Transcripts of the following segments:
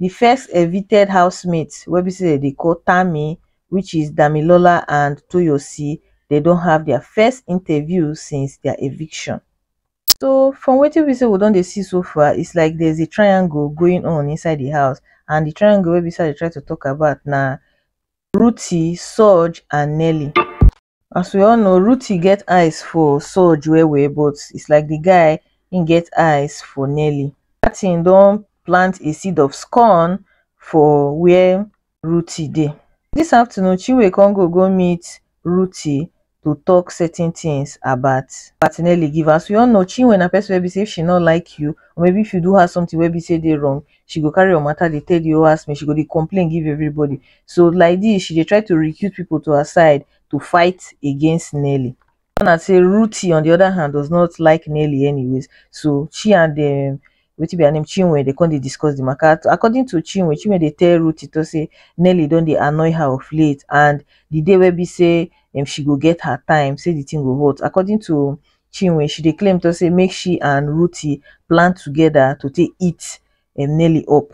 di first evicted housemates wey be say dem dey call tammy which is damilola and toyosi dem don have dia first interview since dia eviction. So from wetin be say we don dey see so far is like there is a triangle going on inside di house and di triangle wey be say I dey try to talk about na Ruthie, Sooj and Nellie. As we all know, Ruti get eyes for Soj well well, but it's like the guy he get eyes for Nelly. That thing don't plant a seed of scorn for where Ruti dey. This afternoon, Chinwe con go go meet Ruti to talk certain things about about Nelly give. As we all know, Chinwe na person wey be say if she not like you, or maybe if you do her something wey be say dey wrong, she go carry your matter dey tell the whole house mate, she go dey complain give everybody. So like this she dey try to recruit people to her side to fight against Nelly. Turn out say Ruthie on the other hand does not like Nelly anyways so she and um wetin be her name Chinwe dey come dey discuss the matter. According to Chinwe, Chinwe dey tell Ruthie to say Nelly don dey annoy her of late and the day wey be say um she go get her time say the thing go hot. According to chinwe she dey claim to say make she and ruthee plan together to take eat um nelly up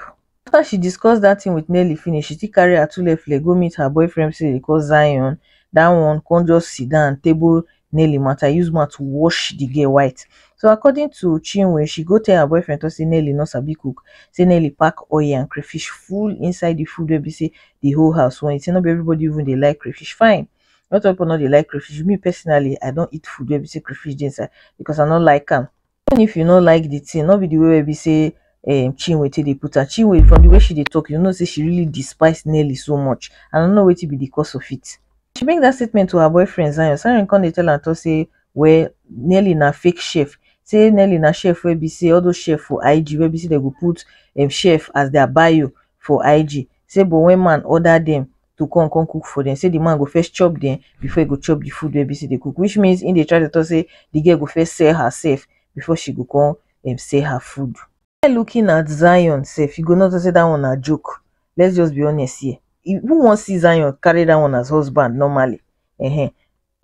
after she discuss that thing with nelly finish she still carry atulefle go meet her boyfriend say dey call zion that one come just sit down table nelly matter use mouth wash the girl white so according to chinwe she go tell her boyfriend to say nelly no sabi cook say nelly pack oil and crayfish full inside the food wey be say the whole house want say no be everybody even dey like crayfish fine not all people no dey like crayfish me personally i don eat food wey be say crayfish dey inside because i no like am even if you no like the thing no be the way wey be say um, chinwe take dey put am chinwe from the way she dey talk you know say she really despise nelly so much and i no know wetin be the cause of it she make that statement to her boyfriend zion zion come dey tell am talk say well nelly na fake chef say nelly na chef wey be say all those chef for ig wey be say dem go put um, chef as their bio for ig say but when man order them to come come cook for dem say the man go first chop dem before e go chop the food wey be say dey cook which means he dey try to talk say the girl go first sell herself before she go come um, sell her food. While looking at Zion sef, you go notice say that one na joke. Let's just be honest here. If, who wan see Zion carry that one as husband normally? Uh-huh.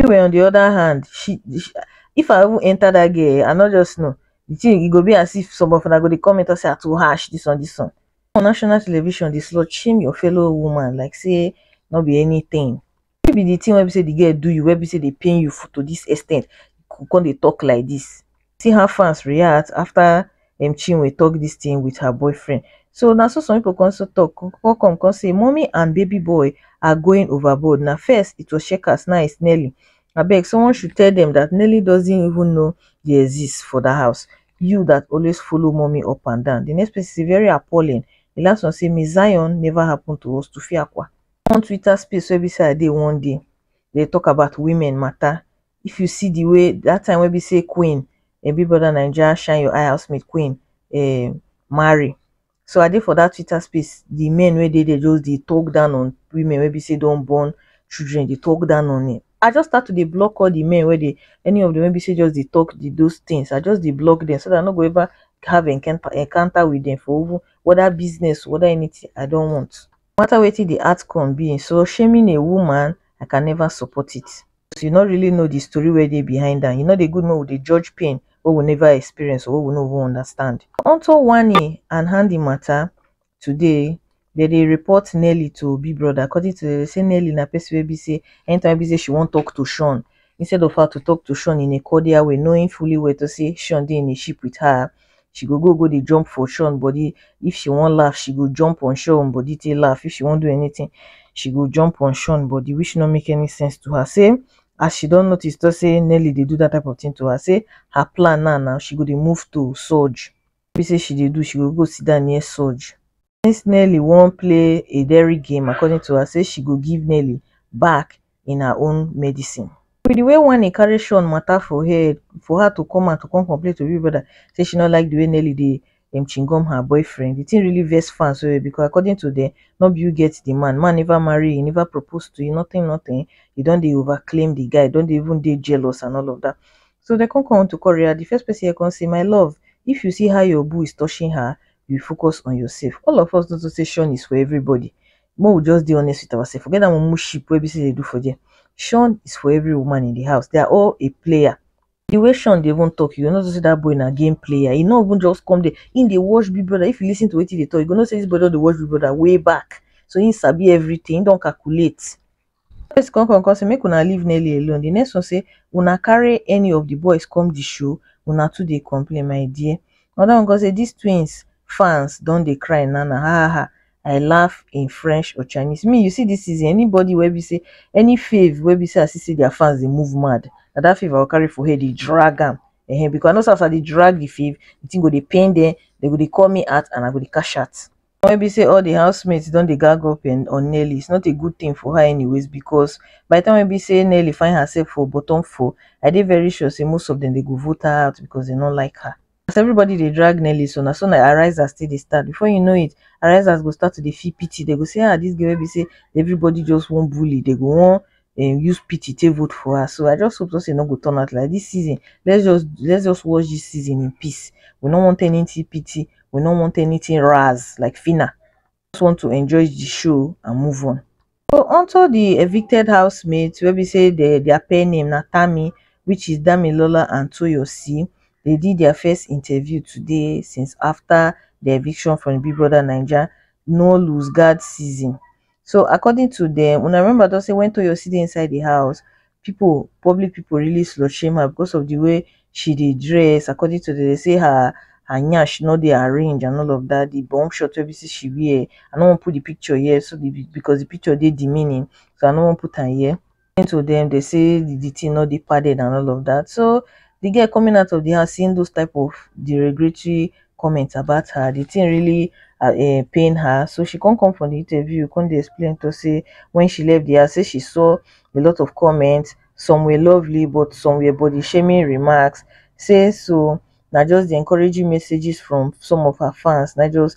anyway on the other hand she she if i even enter that girl i no just know the thing e go be as if some of una go dey comment talk say i too harsh this one this one on national television dey slut shame your fellow woman like say no be anything no be the thing wey be say the girl do you wey be say dey pain you to this extent you come dey talk like this see how fans react after um chinwe talk this thing with her boyfriend so na so some people come so talk come come come say mummy and baby boy are going overboard na first it was checkers now it's nelly abeg someone should tell them that nelly doesn't even know they exist for that house you that always follow mommy up and down the next place is very appalling the last one say miss zion never happen to us to fiakwa one twitter space wey be say i dey one day they talk about women matter if you see the way that time wey be say queen um big brother naija shine your eye housemate queen um marry so i dey for that twitter space the men wey dey there just dey talk down on women wey be say don born children dey talk down on it i just start to dey block all the men wey dey any of them wey be say just dey talk the those things i just dey block them so that i no go ever have encounter encounter with them for even whether business whether anything i don want no matter wetin the outcome be so shaming a woman i can never support it you no really know the story wey dey behind am, e no dey good make we dey judge pain wey we never experience or wey we no even understand. On to whining and hanging matter, today dem dey report Nelly to Big Brother according to dem dey say Nelly na person wey be say anytime wey be say she wan talk to Shawn instead of her to talk to Shawn in a cordial way knowing fully well to say Shawn dey in a ship with her, she go go go dey jump for Sean body if she wan laugh she go jump on Sean body take laugh if she wan do anything she go jump on Sean body which no make any sense to her say as she don notice to say Nelly dey do that type of thing to her say her plan now now she go dey move to Surge be say she dey do she go go sit down near Surge since nelly wan play a daring game according to her say she go give nelly back in her own medicine wit di way wanni carry shawn mata for head for her to come out to come complain to big brother say she no like di way nelly dey um chingom her boyfriend di tin really vex fans well well becos according to dem no be you get di man man neva marry you neva propose to you notin notin you don dey over claim di guy don dey even dey jealous and all of dat so dem come come to come react di first pesin here come say my love if you see how your boo is touching her you focus on yourself all of us no to say shun is for everybody make we just dey honest with ourselves forget that mumu ship wey be say dey do for there shun is for every woman in the house they are all a player the way shun dey even talk you go know say that boy na game player he no even just come there he dey watch big brother if you lis ten to wetin he dey talk you go know say this boy don dey watch big brother way back so he sabi everything he don calculate One person come come come say make una leave Nelly alone, the next one say una carry any of the boys come the show, una too dey complain my dear. Another one come say this twins fans don dey cry now now ha ha ha I laugh in French or Chinese. Me you see this season anybody wey be say any fave wey be say I see say their fans dey move mad na that fave I go carry for head dey drag am um because I know say as I dey drag the fave the thing go dey pain them, they go dey call me out and I go dey cash out. one wey be sey all di house mate don dey gag up on Nelly, is not a good thing for her anyways because by di time wey be sey Nelly find herself for bottom four, I dey very sure sey most of dem dem go vote her out because dem no like her. As everybody dey drag Nelly so, na so na arisers take dey start, before you know it, arisers go start to dey feel pity, dem go sey ah, dis girl wey be sey everybody just wan bully, dem go wan um use pity take vote for her so I just hope something no go turn out like this season let's just let's just watch this season in peace we no want anything pity we no want anything raz like Fina just want to enjoy the show and move on. So onto the evicted housemates where we say they, their pair name na Tammy which is Damilola and Toyosi. They did their first interview today since after the eviction from Big Brother Naija no lose guard season. so according to dem una remember tok say wen Toyosi dey inside di house pipo public pipo really slut shame her because of di way she dey dress according to dem dey say her her nyash no dey arrange and all of dat di bum shot wey be say she wear I no wan put di picture here so di because di picture dey demeaning so I no wan put am here explain to dem dey say the thing no dey padded and all of that so the girl coming out of the house seeing those type of derogatory comments about her the thing really uh, eh, pain her so she come come for the interview come dey explain to say when she left the house say she saw a lot of comments some were lovely but some were body shaming remarks say so na just the encouraging messages from some of her fans na just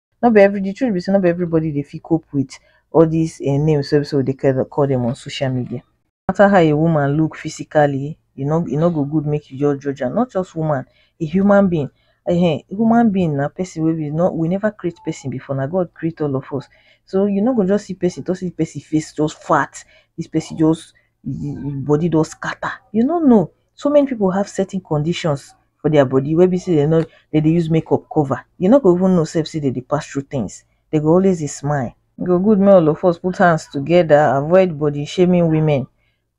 no be every the truth be say no be everybody dey fit cope with all these uh, names wey so they call them on social media no matter how a woman look physically e no e no go good make you just judge am not just woman a human being uh, human being na person wey we no we never create person before na god create all of us so you no go just see person to see person face just fat this person just body just scatter you no know so many people have certain conditions for their body wey be sey dem no dem dey use make up cover, you no go even know sef sey dem dey pass through things, dem go always dey smile. E go good make all of us put hand together avoid body shaming women,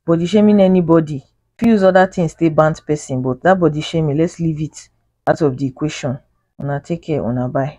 body shaming anybody, you fit use other things take bant person but dat body shaming let's leave it out of de equation, una take care una bye.